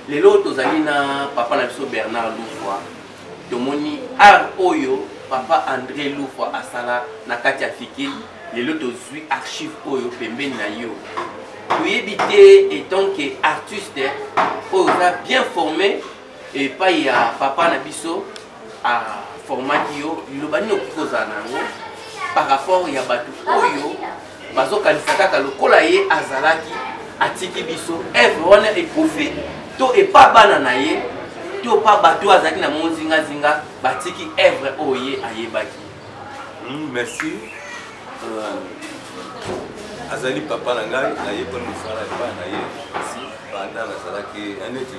lelo tozali na papa na biso bernard lufwa tomoni art oyo papa andré lufwa asala na kati ya fikil lelo tozwi archive oyo pembeni na yo toyebi te etant ke artiste oyo oza bien formé epai ya papa na biso aformaki yo liloba nini okoki kozala na yango par rapport ya bato oyo bazokanisa kaka lokola ye azalaki atiki biso evre wana ekufi to epa bana na ye to pa bato oyo azalaki na mozingazinga batiki evre oyo ye ayebaki hmm, merci euh, azali papa na ngai nayebani mosala epai na ye banda nazalaki neti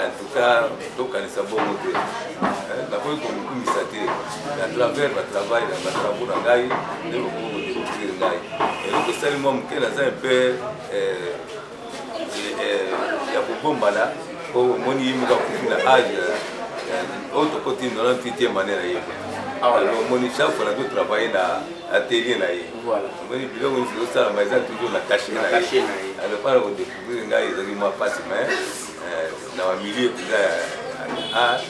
en tout cas tokanisa bongo te eh, nakoki komikumisa te na travers batravail na batravo na ngai nde bokoki kodecouvrir ngai eloko esali mwa moke naza un peu eh, eh, ya kobombana po omoni ye moko akufi na age oyo tokoti 98 mane na ye ah, omoni chaque fois nazo travaille na atelier na ye omoni biloko nyonso ezosalama eza toujours na kashe na ye alopana kodeko Buri ngai ezali mwa mpasi me eh, na bamilie mpenza ya art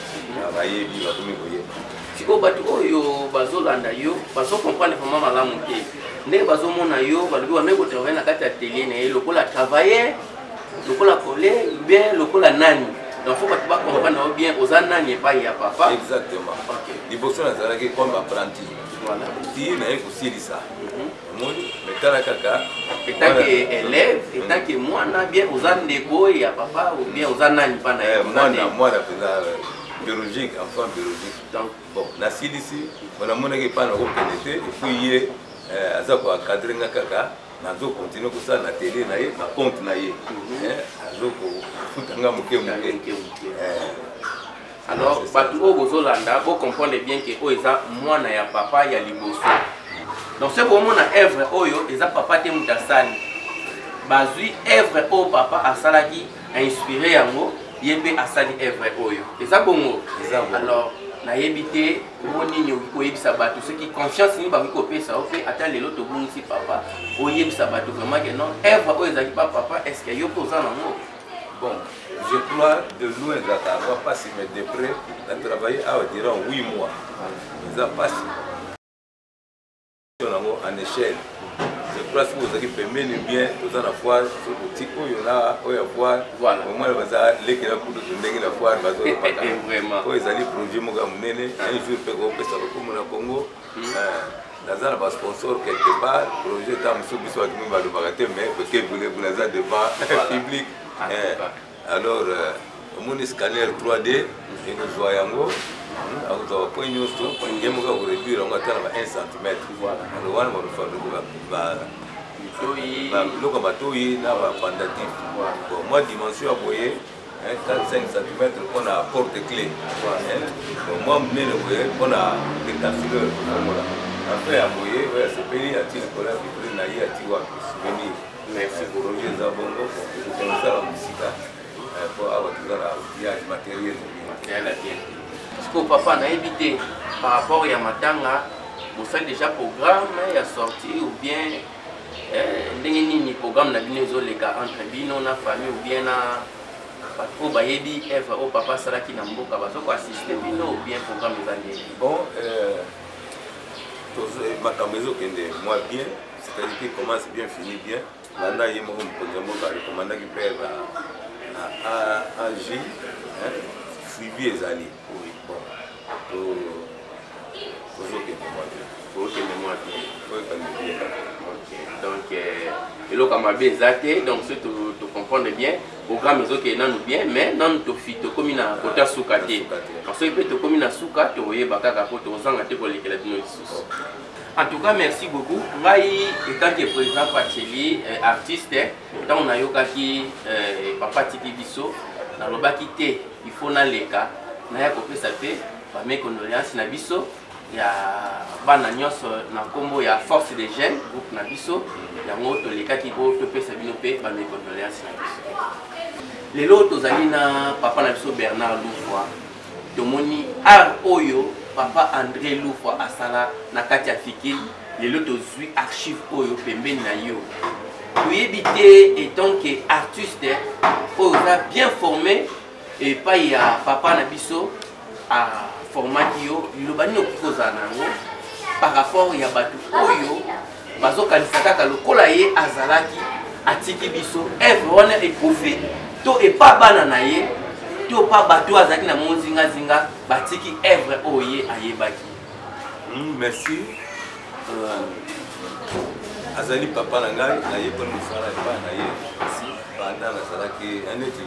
bayebi bakomi koyeba sikoyo bato oyo bazolanda yo bazokomprendre vraimen malamu te ndenge bazomona yo balobi wamei kotravaille na kati ya atelier na ye lokola travailleur lokola kole bien lokola nani donc fo bato bakomprendre yo bien oza nani epai ya papa exactement liboso nazalaki comme apprenti ti naye kosilisa omoni me tala kaka etake elève etake mwana bien oza ndeko oyo ya papa ou bien oza nani mpa na ye eh, mwana mwana mpenza euh, biologique enfant biologique donc bon nasilisi mpo namonaki epai na kokende te epuis ye euh, aza koencadre nga kaka nazo continue kosala na tele na ye na compte na ye mhm. eh, azo kofuta nga moke moke alors bato oyo bozolanda bo comprendre bien ke oyo eza mwana ya papa ya liboso donc soki bomona evre oyo eza papa te moto asali bazwi evre oyo papa asalaki ainspire yango ye mpe asali evre oyo eza bongo alors nayebi te ngo nini okoki koyebisa bato soki confiance nini bakoki kopesa yo mpe ata lelo tobungisi papa oyebisa bato vraiment ke non evre oyo ezalaki pa papa estce yo mpe oza nango Bon, je crois de loin ezalaka mwa mpasi mais de près na travaille awa durant 8 mois eza mpasi yango en échelle je crois soki ozalaki pembeni bien toza na foire soki oti oyo na oyo ya foire omwana baza lekela kudutu ndenge na foire bazolopaka oyo ezali projet moko ya monene un jour mpe kopesa lokumu na congo naza na basponsor quelque part projet ta mosusu biso bato mimi balobaka te mais kebulebule aza devant public eh, alors euh, omoni scanner 3d ekozwa yango hmm, akozwa bapoint ah, nyonso ye moko akoreduire yango ata na ba 1 centimètre alors wana biloko ya matoyi na bapandatif mwa dimension ya boye 45 cm mpo na porte cle mwa monene boye mpo na decafileur fongola après ya boye oyo asepeli ati likolo ya vitrine na ye ati wapi souvenir merci bolobi eza bongo kokosala mosika mpo awa toza na outillage matériel sikoyo papa nayebi te par rapport ya matanga bosali déjà programme ya sortie ou bien eh, ndenge nini programme na bino ezoleka entre bino na famille ou bien na bato oyo bayebi evre oyo papa asalaki na mboka bazokoassiste bino ou bien programme eza ndenge bon euh, makambo ezokende mwa bien c'est-à-dire que commence bien fini bien landa ye moko mokonzi ya mboka rekomandaki mpe na ag suivi ezali eloko ya mabe eza te donc soki tocomprendre bien programme ezokende nanu bien mais nanu tofi tokomi na kota suka te soki mpe tokomi na suka tokoyeba kaka mpo tokozanga te kolekela bino lisusu en tout cas merci beaucoup ngai etant que président pacheli euh, artiste ntango nayokaki eh, papa atiki biso nalobaki te il faut naleka naya kopesa mpe bame condoléance na biso ya bana nyonso na nkombo ya force de jeune groupe na biso yango tolekaki po topesa bino mpe bame condoléance na biso lelo tozali na papa na biso bernard lufwa tomoni art oyo papa andré lufwa asala na kati ya fikili lelo tozwi archive oyo pembeni na yo toyebi te etant ke artiste oyo oza bien formé epai ya papa na biso aformaki yo liloba nini okoki kozala na yango par rapport ya bato oyo bazokanisa kaka lokola ye azalaki atiki biso evre wana ekufi to epa bana na ye to pa bato azalaki na mo zingazinga batiki evre oyo ye ayebaki hmm, merci euh, azali papa na ngai nayeboli mosala epai na ye banda nazalaki neti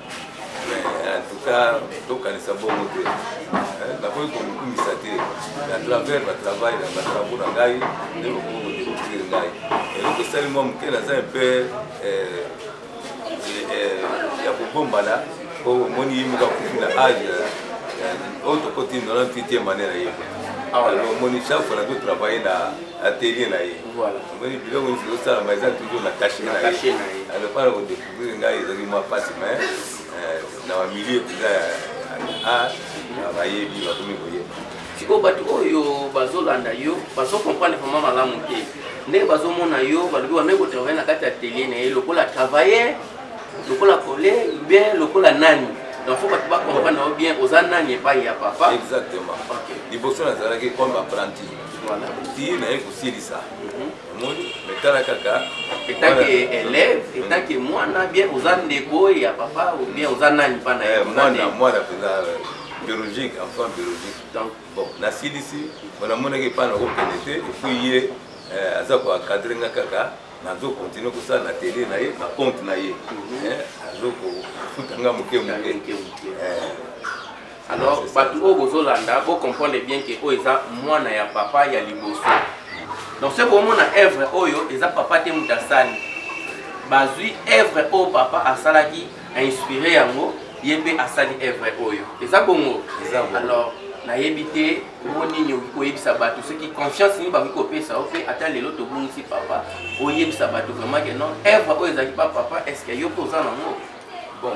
en tout cas tokanisa bongo te eh, nakoki komikumisa te na travers batravail na batravo na ngai nde bokoki kodecouvrir ngai eloko esali mwa moke naza un peu eh, eh, ya kobombana po omoni ye moko akufi na age oyo tokoti 98 mane na ye ah, omoni chaque fois nazo travaille na atelier na ye omoni biloko nyonso ezosalama eza toujours na kashe na ye alopana kodeko Buri ngai ezali mwa mpasi me eh, na bamilie mpenza ya art bayebi bakomi koyeba sikoyo bato oyo bazolanda yo bazokomprendre vraimen malamu te ndenge bazomona yo balobi wamei kotravaille na kati ya atelier na ye lokola travailleur lokola kole bien lokola nani donc fo bato bakomprendre yo bien oza nani epai ya papa exactement liboso nazalaki comme apprenti ti naye kosilisa omoni me tala kaka etake elève etake mwana bien oza ndeko oyo ya papa ou bien oza nani mpa na ye eh, mwana mwana mpenza euh, biologique enfant biologique donc bon nasilisi mpo namonaki epai na kokende te epuis ye euh, aza koencadre nga kaka nazo continue kosala na tele na ye na compte na ye mhm. eh, azo kofuta nga moke moke alors bato oyo bozolanda bo comprendre bien ke oyo eza mwana ya papa ya liboso donc soki bomona evre oyo eza papa te moto asali bazwi evre oyo papa asalaki ainspire yango ye mpe asali evre oyo eza bongo alors nayebi te ngo nini okoki koyebisa bato soki confiance nini bakoki kopesa yo mpe ata lelo tobungisi papa oyebisa bato vraiment ke non evre oyo ezalaki pa papa estce yo mpe oza nango Bon,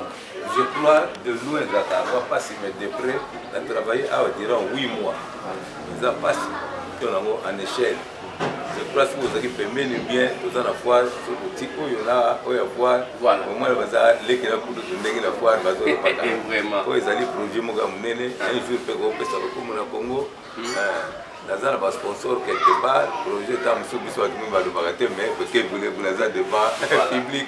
je crois de loin ezalaka mwa mpasi mais de près na travaille awa durant 8 mois eza mpasi to nango en échelle je crois soki ozalaki pembeni bien oza na foire soki oti oyo na oyo ya foire omwana baza lekela kutu tondenge na foire bazolobaka oyo ezali projet moko ya monene un jour mpe kopesa lokumu na congo hmm. eh, naza na basponsor quelque part projet ta mosusu biso bato mimi balobaka te mais bokebulebule aza devant public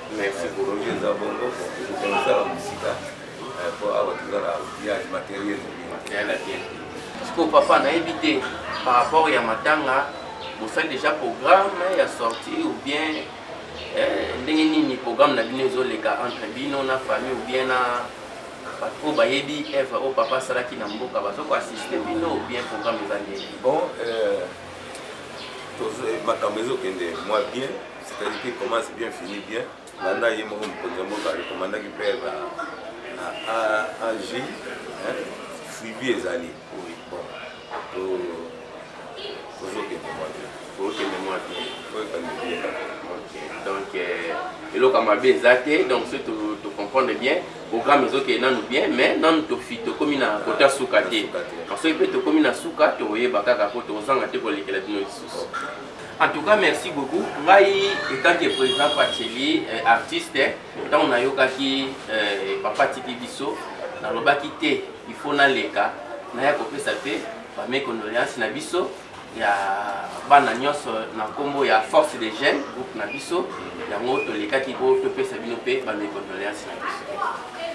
Merci bolongi eza bongo tokosala mosika mpo eh, awa toza na outillage matériel yala te sikoyo papa nayebi te par rapport ya matanga bosali déjà programme ya sortie ou bien eh, ndenge nini programme na bino ezoleka entre bino na famille ou bien na bato oyo bayebi evre oyo papa asalaki na mboka bazoko assiste bino ou bien programme eza ndenge bon euh, makambo ezokende mwa bien c'est-à-dire qu'il commence bien finit bien landa ye moko mokonzi ya mboka recommandaki mpe ag suivi ezali bon tozokende mwa te tozokende mwa te toyekande bien donc euh, eloko ya mabe eza te donc soki tocomprendre bien programme ezokende nanu bien mais nanu tofi tokomi na kote ya suka te soki mpe tokomi na suka tokoyeba kaka mpo tokozanga te kolekela bino lisusu En tout cas, merci beaucoup. Ngai, étant que président Pacheli, euh, artiste, ntango nayokaki euh, papa tiki biso nalobaki te il faut naleka naya kopesa mpe bame condoléance na biso ya bana nyonso na nkombo ya force des jeunes groupe na biso yango tolekaki po topesa bino mpe bame condoléance na biso